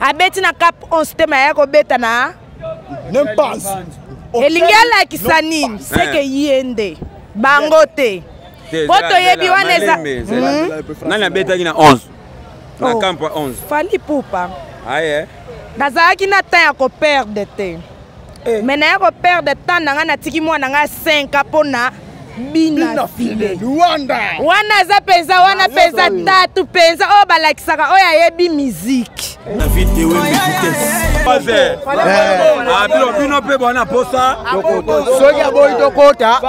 abeti na cap 11 te maya kobeta na nempanse elingi alakisa nini seke eh. ye nde bango te mpo toyebi wana eza hmm? nani abetaki na 11 na camp 11 fali pupa aye nazalaki na temps ya koperde te eh. mais naya koperdre temps na ngai natiki mwana ngai 5 a mpo na bina file wana aza mpenza wana mpenza tatu mpenza oyo balakisaka oyo ayebi miziki bino mpe bwana posa soki aboyi tokota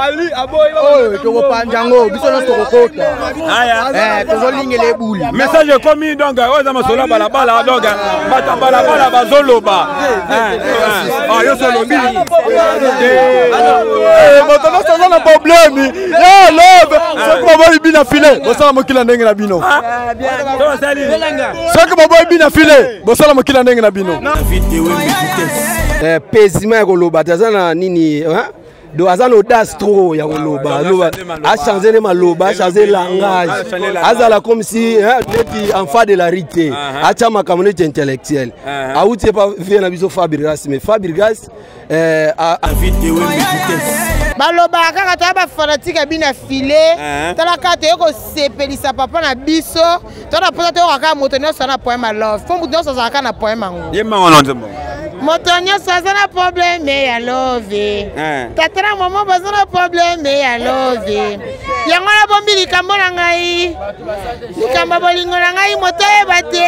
oyo tokopanja yango biso nyonso tokokota Eh, tozolingela ebuli message ekomi donc oyo eza masolo ya balabala donc bato ya balabala bazoloba yo solobi bato nyonso aza na probleme ya love soki baboyi bina file bosala mokila ndenge na bino soki baboyi bina file bosala mokila ndenge na bino pezima ya koloba te aza na nini donc aza na audace trop ya koloba aloba achange nde maloba achange langage azala comme si neti enfant de la rite te atya makambo neti intellectuel awuti epa vie na biso fabrigas mais fabrigas eh, balobaka kaka toya bafanatike ya bino ya file talaka toye kosepelisa papa na biso to na posa toyoka kaka moto nyonso na poeme ya love mpo moto nyonso azalaka na poeme yango ye mango na nzembo moto nyonso aza na probleme ya love eh. tata na mama baza na probleme ya love yango nabombi likambo na ngai likambo ya bolingo na ngai moto oyeba te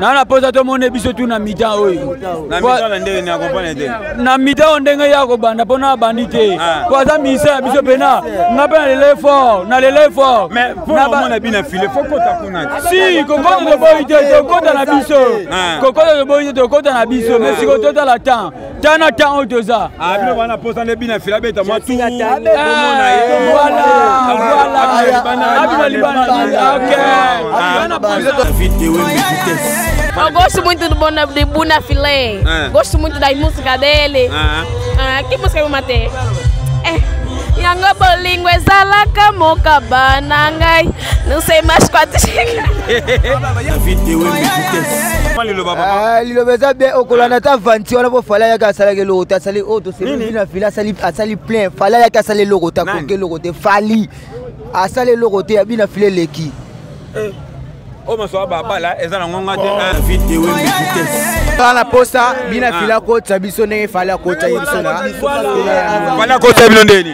na na mposa tomone biso tu na mitan oyo na mitan oyo ndenge ye akobanda mpo na abandi te mpo aza ministère ya biso mpena nga mpe na lele fort na lele fort si kokota toboyi te tokota na biso kokota toboyi te tokota na biso mais siko totala temps tana ntango oyo toza ah, bino bana posa nde bina fila beta mwa tuabina Eu gosto muito do Bona, de Buna Filé. É. Gosto muito da música dele. Ah. Ah, que música eu matei? É. Yango bolingo ezalaka mokaba na ngai Nous sommes ma squat. liloba eza bien okolanda ata vanti wana po fala yaki asalaki eloko te asali oyo toseina fila asali plein fala yaki asali eloko te akoki eloko te fali asali eloko te ya bina fila eleki eh, oyo masoa babala eza na ngonga te bana posa bina fila akotisa biso ndenge fali akotisa ye biso na fali akotisa bino ndeni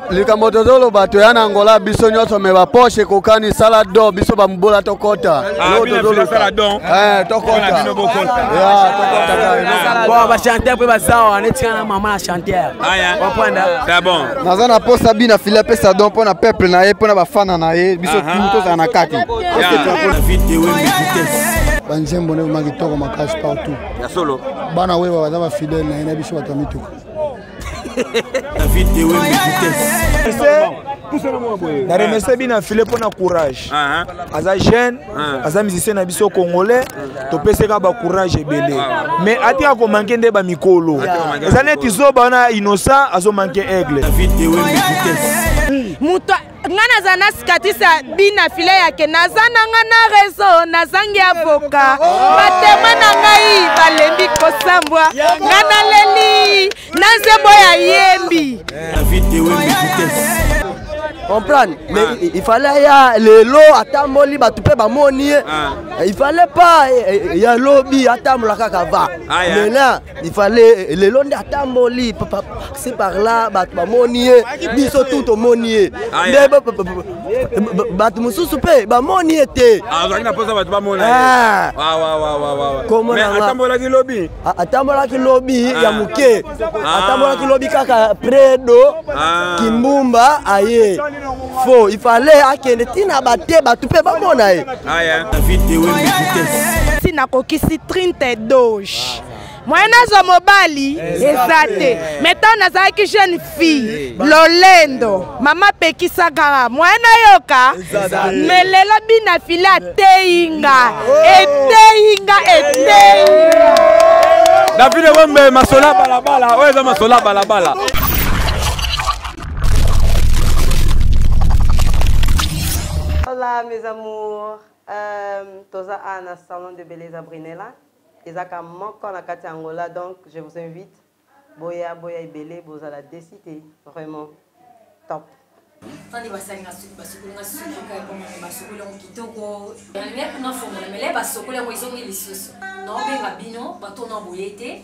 likambo tozoloba toya na angola biso nyonso me baposhe ekokani sala do biso bamobola tokota ah, eh, bachanteur mpe bazawa netika na mama na chanteur ah, naza na mposa bi na fili apesa don mpo na peuple na ye mpo na bafana na ye biso ah, tu tozala na kati banzembo nde boma kitoko makasi partout bana weba baza bafidele na ye na biso bato ya mituka na remercie bino na file mpona courage ah, ah. aza jeune ah. aza musicien na biso congolais topeseka bacourage ebele mais atika komanke nde bamikolo eza neti zoba wana innocent azomanke aigle moto nga naza na sikatisa bina file yake naza na nga na rezo nazangi avoka batema na ngai balembi kosambwa nga naleli na nzembo ya yembi comprendre mais ah. il fallait ya lelo atamboli bato mpe bamoni ye ah. il fallait pas eh, eh, ya lobi atambola kaka va ah, mena il fallait lelo nde atamboli si par là bato bamoni ye biso tu tomoni ye nde bato mosusu mpe bamoni ye te azalaki na mposa bato bamona atambolaki lobi atambolaki lobi ya moke atambolaki lobi kaka predo kimbumba aye fo il fallait akende ntina bate bato mpe bamona ye si nakokisi trinte doge moye nazwa mobali eza te mai ntango nazalaki jeune fille lolendo mama pekisaka moye nayoka me lelo bina file ateyi nga eteyi nga eteyi davide wembe masola balabala oyo eza masola balabala Hola mes amours, euh, toza a na salon de Beleza Brinella, ezaka moko na kati Angola, donc je vous invite boya boya ebele bozala desite vraiment top. fandi basali basukoli nga suki kaekomani basukoli yango kitoko yango nafongola mele basukoli yango ezongi lisusu naobenga bino bato na boye te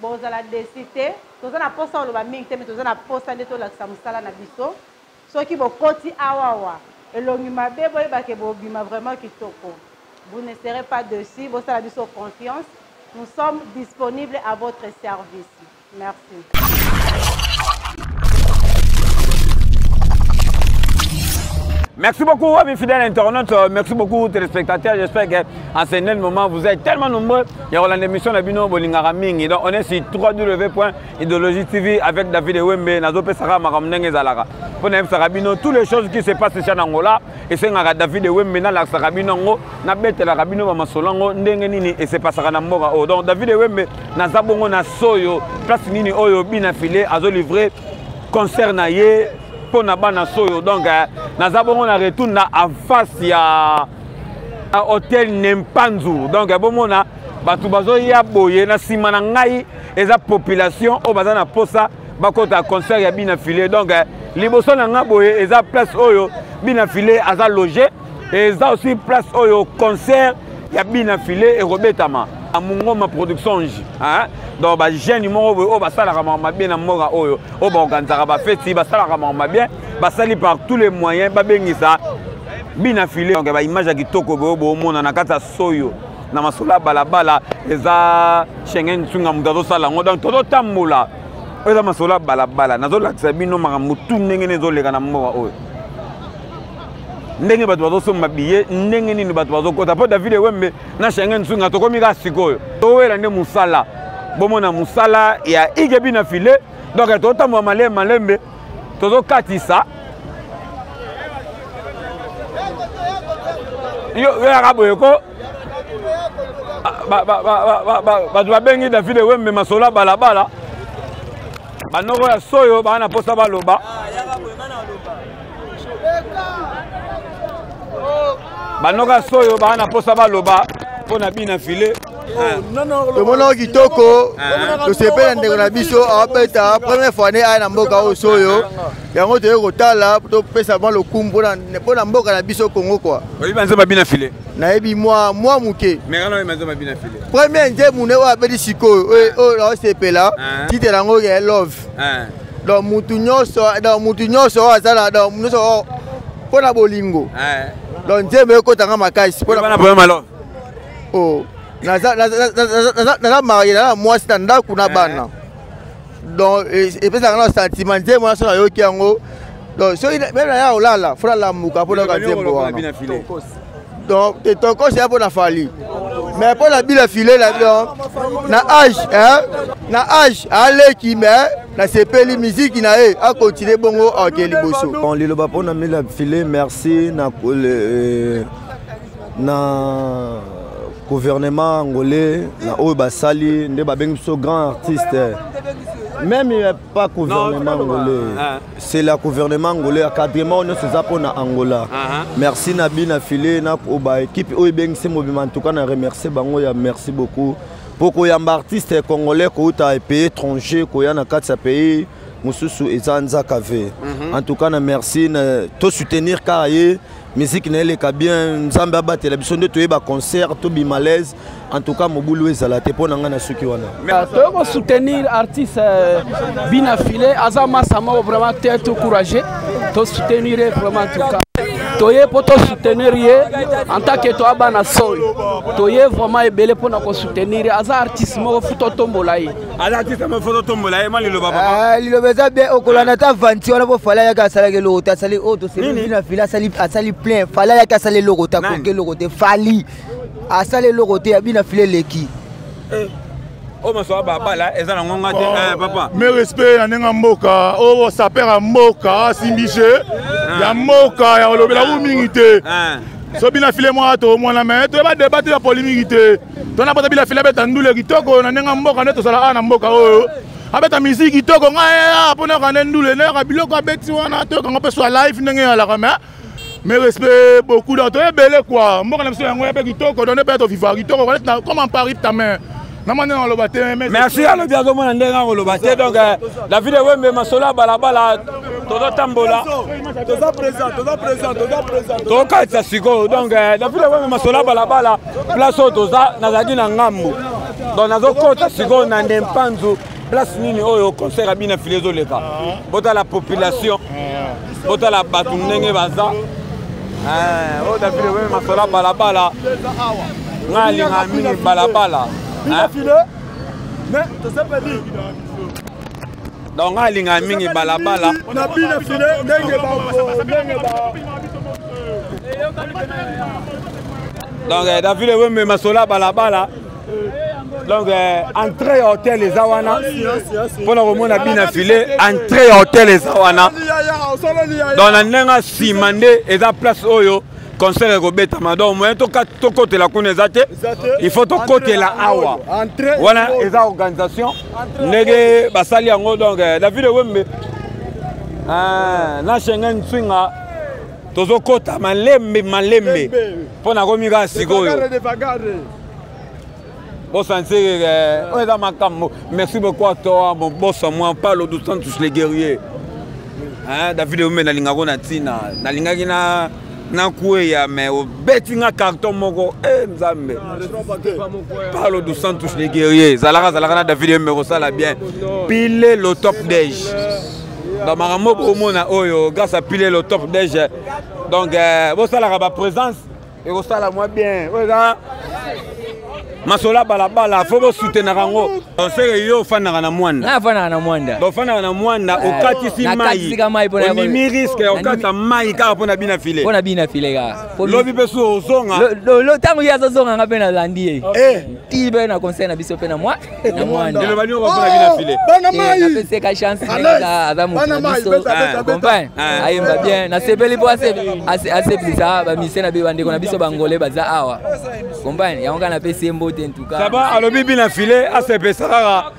Bozala deçu te. Toza na posa oloba mingi te mais toza na posa nde tolakisa musala na biso. Soki bokoti awawa elongi mabe boyeba ke bobima vraiment kitoko. Vous ne serez pas deçu. Bosala biso confiance. Nous sommes disponibles à votre service. Merci. Merci beaucoup, amis fidèles internautes. Merci beaucoup, téléspectateurs. J'espère qu'en ce moment, vous êtes tellement nombreux. ya kolanda émission na bino bolingaka mingi donc on est sur 3 w point idéologie tv avec david ewembe nazopesaka makambo ndenge ezalaka mpo nayebisaka bino tous les choses qui se passe cha na angola esengaka david ewembe nalakisaka bino yango nabetelaka bino bamasolo yango ndenge nini esepasaka na mboka oyo oh, donc david ewembe naza bongo na soyo place nini oyo bina file azolivre concert na ye mpo na bana soyo donc eh, naza bongo na retour na en face ya a hotel nempanzu donc bomona bato bazoya boye na nsima na ngai eza population oyo baza na mposa bakota concert ya bina filet donc eh, liboso na ngai boye eza place oyo bina filet aza loge eza aussi place oyo concert ya bina filet ekobetama na mongoma production ji donc bagene moko boye oyo basalaka maka mabe na mboka oyo oyo baorganisaka bafeti basalaka maka mabe basali par tous les moyens babengisa bina file donc ba image ya kitoko boyo boomona na kati ya soyo na masolo ya balabala eza shengen nsunga moto azosala yango donc tozotambola oyo eza masolo ya balabala nazolakisa bino makambo tu ndenge nini ezoleka na mboka oyo ndenge bato bazosomba biye ndenge nini bato bazokota mpo david ewembe na shengen nsunga tokomi kaka sikoyo towela nde mosala bomona mosala ya igebi na file donc totambola malembe malembe tozokatisa yo yaka boye ko bato babengi david ewembe masolo ya balabala banoko ya soyo baa na mposa baloba banoko ya soyo baa na mposa baloba mpo na bina file tomonaki kitoko tosepela ndeko na biso abeta première fois ne aya na mboka oyo soyo yango toyei kotala topesa mwa lokumu mpo na mboka na biso kongo kua nayebi mwa mwa moke premier nzembu ne oyo abeti sikoyo oyo naosepela tite yango ya love donc mutu nyonso donc mutu nyonso oyo aza na donc nyonso mpo na bolingo donc nzembo ekotanga makasi mpo na oh naza naza marie naza mwasi na ndako na bana eh. donc epesaka na sentiment nzembo na so nayoki yango donc soki meme na ya kolala fo nalamuka mpo nayoka nzembo wana donc te tokosi ya mpo na fali mais mpo na bila file na donc na age na age aleki mais nasepeli miziki na ye akontinue bongo ake liboso liloba mpo na mila file merci na euh, na gouvernement angolais na oyo basali nde babengi biso grand artiste même il n'y a pas gouvernement angolais ah. c'est la gouvernement angolais encadrement oyo nyonso eza mpo na angola ah, ah. merci na bi na file na baekipe oyo ebengisi mobima en tout cas na remercie bango ya merci beaucoup mpo koyamba artiste congolais kouta epays étranger koya na kati ya pays mosusu eza nzaka ve mhm. en tout cas na merci to soutenir kaka ye miziki na eleka bien nzambe abatela biso nde toyeba concert tobima laise en tout cas mobulu ezala te mpo na ngai nasuki wana ah, toyei kosoutenir artiste euh, bina file aza masa moko vraiment te to courage tosoutenir ye vraiment en tout cas toye mpo tosoutenir ye en tant que toya bana soi toye vraiment ebele mpo na kosoutenir ye aza artiste moko fu totombola ye alatisa mo foto tombola ye ma liloba papa eh, liloba eza bien okolanda ata vanti wana mpo fala yaki asalaki eloko te asali oyo oh, toselii na fili asali plein fala yaki asali eloko te akoki eloko te fali asali eloko te ya bina fili eleki eh, oyo oh, masoba babala eza na ngonga te eh, papa me respect ya ndenge ya mboka oyo oh, saper ya mboka asimbi je ah. ya mboka ya olobela u mingi te ah. so bina file mwa to omwana me toyeba debate ya polimiki te tona bota bila fila beta ndule kitoko na ndenge mboka nde tozala awa na mboka oyo abeta miziki kitoko ngai eh, mpo ah, nayoka nde ndule nayoka biloko abeti wana toyokango mpe swa life ndenge eyalaka mais mais respect beaucoup donc toye ebele kua mboka na biso yango ya mpe kitoko donde mpe toviva kitoko comme en paris tame namani naloba te merci alobi azomona ndenge akoloba te donc euh, david ewembe masolo ya balabala tozotambola tokatisa sikoyo donc euh, david ewembe masolo ya balabala place oyo toza nazalaki na ngambo donc nazokota sikoyo na nde mpanzu place nini oyo concert abina file ezoleka ah. botala population ah. botala bato ndenge baza eh, oyo davide weme masola balabala ngai alinga mingi balabala eh? mais tosepeli donc ngai alingaka mingi balabala na bina file ndenge ndenge donc eh, david ewemema sola balabala donc eh, entrée ya hotel eza wana mpo na komona bina file entrée ya hotel eza wana donc na ndenge nsima nde eza place oyo concert ekobetama donc moyen tokotela kuna eza te il faut tokotela awa wana eza organisation ndenge basali yango donc eh, la ville wembe eh, na schengen swinga tozokota malembe malembe mpo nakomi kaka sikoyo bosanseke eh, oyo eza makambo merci beaucoup atoa moboso mwa palo du santus le guerrier david wembe nalingako na ntina nalingaki na nakueya me obeti nga carton moko e nzambe palo du santus le guerrier zalaka zalaka na david yembe kosala bien pile le top dege donc makambo bokomona oyo grâce à pile le top dege donc eh, bosalaka baprésence ekosala mwa bien oyo eza masola balabala fo bosutenaka yango oseke yo ofandaka na mwanda afandaka na mwanda ofandaka na mwanda eh, okatisi mai omimi riske okatisa mai kaka mpo na bina file mpo na bina file kaka lobi mpe su ozonga ntango ye azozonga nga mpe nalandi ye eh. ti mpe na conseil na biso mpe na mwa na mwanda eloba nio mpo na bina oh, file napeseka eh, chance aza moto na biso compagne ayemba bien nasepeli mpo asepelisa bamisie na bandeko na biso bangole baza awa Combine, yango kaka napesi ye mbote en tout cas. Saba alobi bina file asepesa kaka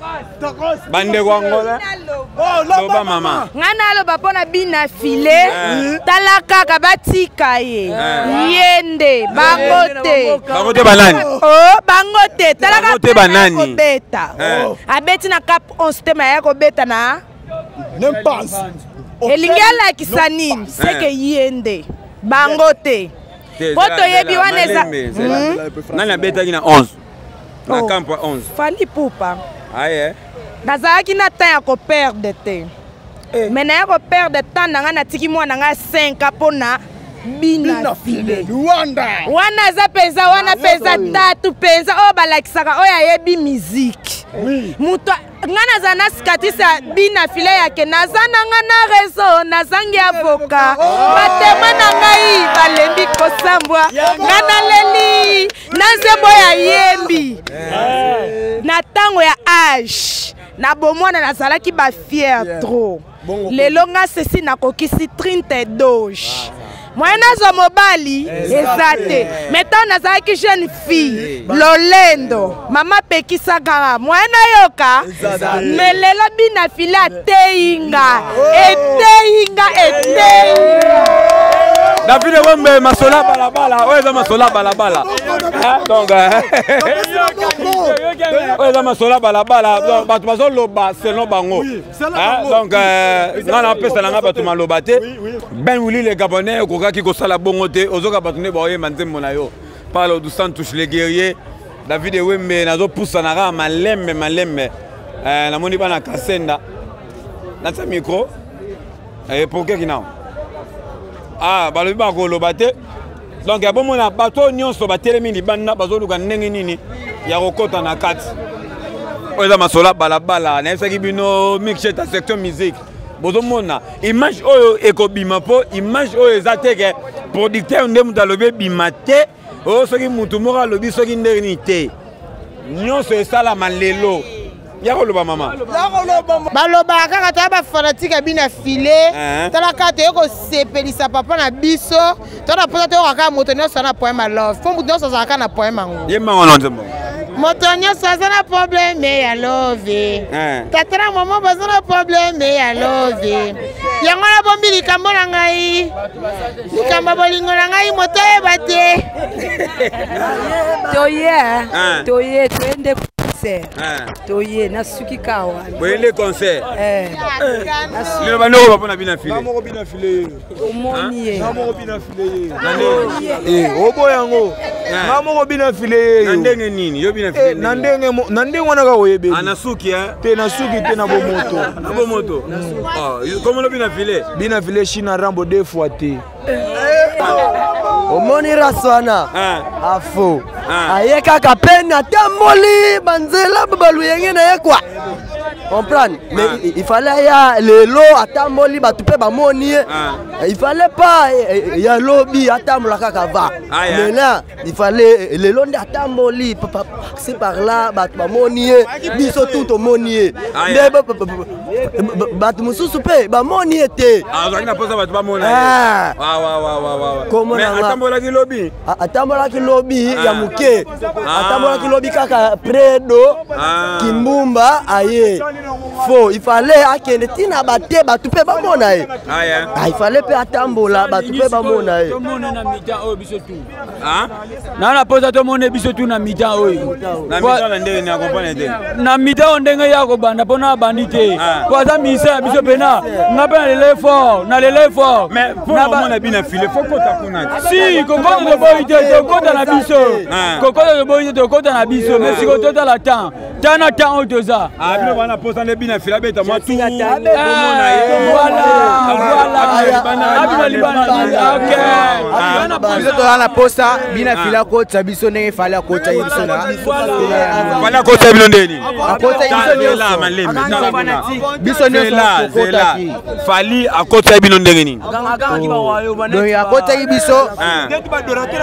bandeko angola oh, loba mama ngai naloba mpo na bina file eh. tala kaka batika ye eh. ye nde bango eh. te bango te banani oh, bango te tala kaka kobeta oh. abeti na cap 11 te ma ya kobeta na elingi alakisa nini seke ye nde bango te po toyebi wana eza hmm? nani abetaki na 11 na camp 11 fali pupa aye nazalaki na temps ya koperde te eh. me naya koperde temps na ngai natiki mwana ngai 5 mpo na bina file wana aza mpenza wana mpenza tatu mpenza oyo balakisaka oyo ayebi miziki moto nga naza na sikatisa bina file yake naza na nga na rezo nazangi avoka batema na ngai balembi kosambwa nga naleli na nzembo ya yembi na ntango ya age na bomwana nazalaki bafiere trop lelo nga sesi nakokisi 30 doge moyen nazwa mobali eza te mai ntango nazalaki jeune fille lolendo mama pekisaka moyen nayoka me lelo bina file ateyi nga eteyi nga eteyi davide wembe masola balabala oyo eza masola balabala donc oyo eza masola balabala bato bazoloba selon bango Ah, donc euh, nga napesana nga bato maloba te ben wili le gabonais okokaki kosala bongo te ozoka bato nde baoyemba nzembo na yo palo du santus le guerrier david ewembe nazopusana kaka malembe malembe eh, namoni bana kasenda natia micro eh, pourke kinao ah, balobi bakoloba te donc ya bomona bato oyo nyonso batelemi libanda bazoluka ndenge nini ya kokɔta na kati oyo eza masolo ya balabala nayebisaki bino mixeta section musique bozomona image oyo ekobima mpo image oyo eza te ke producteur nde moto alobi ebima te oyo oh, soki motu moko alobi soki ndenge nini te nyonso esalama lelo ya koloba mama balobaka kaka toya bafanatike ya bino ya file eh. tala kaka toye kosepelisa papa na biso tona mposa toyoka kaka moto nyonso na poeme ya love mpo moto nyonso azalaka na poeme yango ye mango na nzembo moto nyonso aza na probleme ya love eh. tata na mama baza na probleme ya love yango nabombi likambo na ngai likambo ya bolingo na ngai moto oyeba te toye ah. toye toye nde concert ah. toye nasuki ka wana boye nde concert eh. lelo bandoko bapo na bina file omoni ye obo yango nga moko bina file yeyo na ndenge nini yo bina file eh, na ndenge na ndenge wana kaka oyebeli ah, nasuki te nasuki te na bomoto na bomoto komo lobi na file bina vile shina rambo deux fois te omoni race wana ah. afo ah. aye kaka mpe natamboli banzela babaluyenge na ye kwa comprendre mais ah. il fallait aya lelo atamboli bato mpe bamoni ye il fallait pas eh, eh, ya lobi atambola kaka va mena il fallait lelo nde atamboli si par là bato bamoni ye biso tu tomoni ye nde bato mosusu mpe bamoni ye te azalaki na mposa bato bamona atambolaki lobi atambolaki lobi ya moke atambolaki lobi kaka predo kimbumba aye fo il fallait akende ntina bate bato mpe bamona ye il fallait mpe atambola bato mpe bamona ye na na mposa tomone biso tu na mitan oyo na mitan oyo ndenge ye akobanda mpo na abandi te mpo aza ministère ya biso mpena nga mpe na lele fort na lele fort si kokota toboyi te tokota na biso kokota toboyi te tokota na biso mais sikoyo totala temps tana ntango oyo toza ah, bino bana posa nde bina fila beta mwa tuabina toza na posa bina ah. fila akotisa biso ndenge fali akotisa ye biso nafali akotisa bino ndeni biso nyonsofali ah, akotisa bino ndenge nini oh. akotaki biso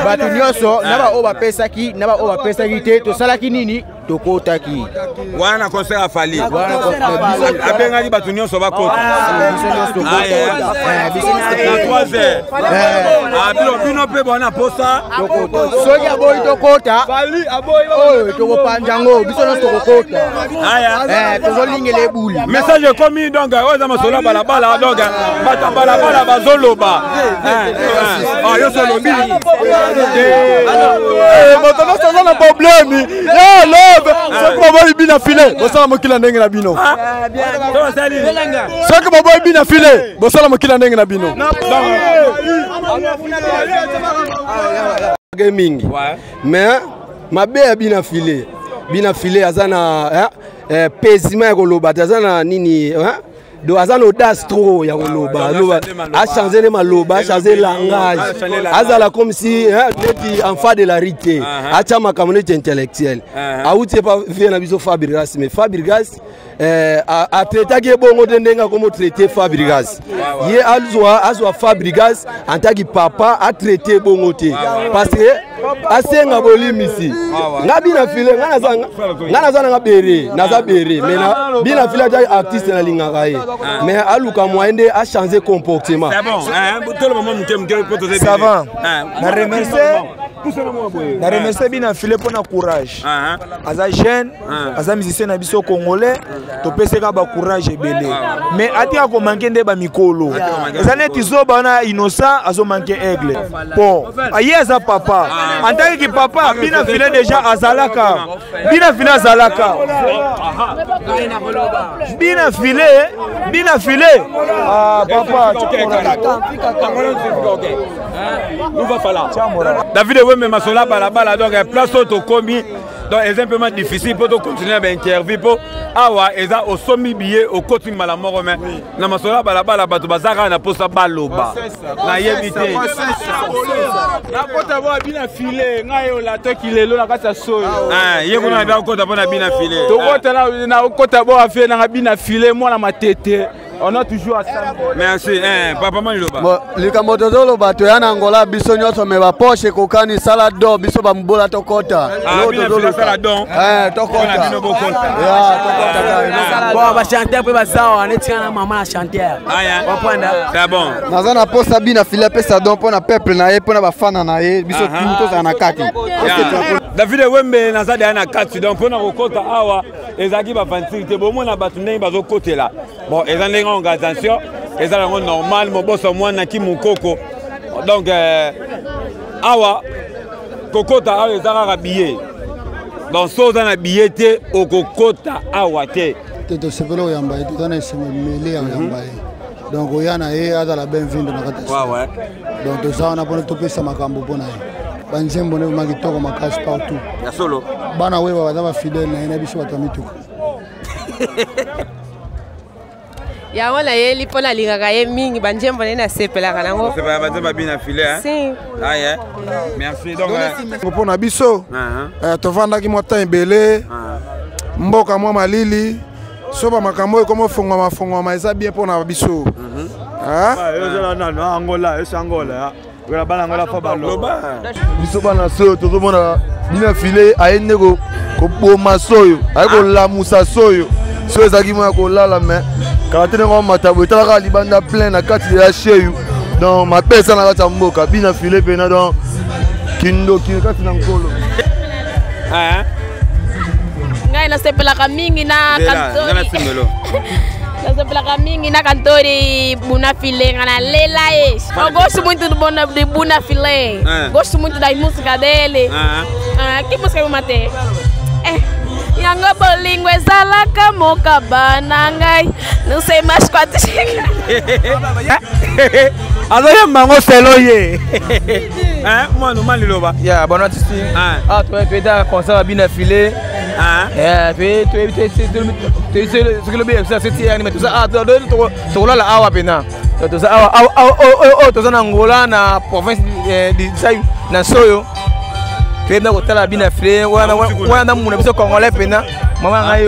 bato nyonso na baoyo bapesaki na baoyo bapesaki te tosalaki nini tokotaki wana na concert ya fali abengaki bato nyonso bakota bino mpe bwana posa soki aboyi tokota oyo tokopanza yango biso nyonso tokokota eh, tozolingela ebuli message ekomi donc oyo eza masolo ya balabala donc bato ya balabala bazoloba moto nyonso aza na probleme ya love soki baboyi bina file bosala mokili ya ndenge na bino soki baboyi bina file bosala mokili ya ndenge na bino mingi mais mabe ya bina file bina file aza na eh, eh, pezima ya koloba te aza na nini eh? donc aza na audace trop ya koloba aloba achange nde maloba achange langage azala comme si neti enfant de la rue te atya makambo neti intellectuel awuti epa vie na biso fabrigas mais fabrigas eh, atraitaki ye bongo te ndenge akomi otraite fabrigas ye azwa fabrigas en tant que papa atraite ye bongo te parce que asenga bolimbisi nga bina file nga naza nanga bere naza bere me bina file aja artiste nalingaka ye ah. me aluka moyen nde achange comportement savant na remercie na remercie bina file mpo na courage ah, ah. aza jeune ah. aza musicien na biso congolais ah. topeseka bacourage ebele ah. mais atika komanke nde bamikolo eza neti zoba wana innocent azomanke aigle po aye aza papa antaki kipapa bina file deja azalaka bina file azalaka bina file bina file papa david ewemema sola balabala donc place oyo tokomi donc eza mpema difficile mpo tocontinue na bainterview mpo awa eza osombi biye okoti mbala moko me na masolo ya balabala bato baza kaka na mposa baloba nayebi te nakota mpo abina file ngai olatoki lelo na kati ya soyo ah, ye kuna nabi akota mpo na bina file tokota ah. nakota mpo afie nanga bina file mwana matete on a toujours merci eh, papa maniloba likambo tozoloba toya na angola biso nyonso me bapoche ekokani sala do biso bamobola tokota ah, eh, bachanteur mpe bazawa netika na mama na chanteur ah, naza na mposa bi na fili apesa don mpo na peuple na ye mpo na bafana na ye biso tozala na kati david wembe naza deya na kati donc mpo na kokota awa ezalaki bavanture te bomona bato ndenge bazokotela bon eza ndenge organisation eza yango normal moboso mwana ki mokoko donc euh, awa kokota awa eza kaka biye donc so oza na biye te okokota awa te te tosepeli oyamba ye toza na esengo mele ya oyamba ye donc oya na ye azala benvindo na kati donc toza wana mpona topesa makambo mpo na ye banzembo nde ma kitoko makasi partout ya solo bana weba baza bafidele na ye na biso bato ya mituka yango nayeli mpo nalingaka ye mingi banzembo nde nasepelaka nango banzembo abina file mpo na biso uh-huh. eh, tovandaki mwa temps ebele uh-huh. mboka mwa malili soba makambo oyo ekoma ofongwama fongwama eza bien mpo na biso mhm. ah? ah, ezala nano ah, angola esi angola wela bana angola fa baloba biso bana soyo tozomona bina file aye nde koboma soyo aye kolamusa soyo soyo ezalaki moya kolala mai kala te ndenge omata boye etalaka libanda plein na kati ya sheyu donc mabe eza na kati ya mboka bina file mpena donc kindoki kati na nkolo eh, eh. ngai nasepelaka mingi na kantori nasepelaka mingi na kantori buna file nga nalela ye eu gosto muito do buna, de buna file eh. gosto muito da música dele ah. Ah, que música eu matei eh, yango bolingo ezalaka mokaba na ngai nusemaskwatisika azoyemba yango selo ye mwana oma liloba ya bana tisi a toyeda concert ya bina file soki lobi yebisa seti yani me toza tokolala awa mpena toza awa oyo toza na angola na province disai na soyo toyebi na kotala bina file wana na muna biso congolais mpena mama ngai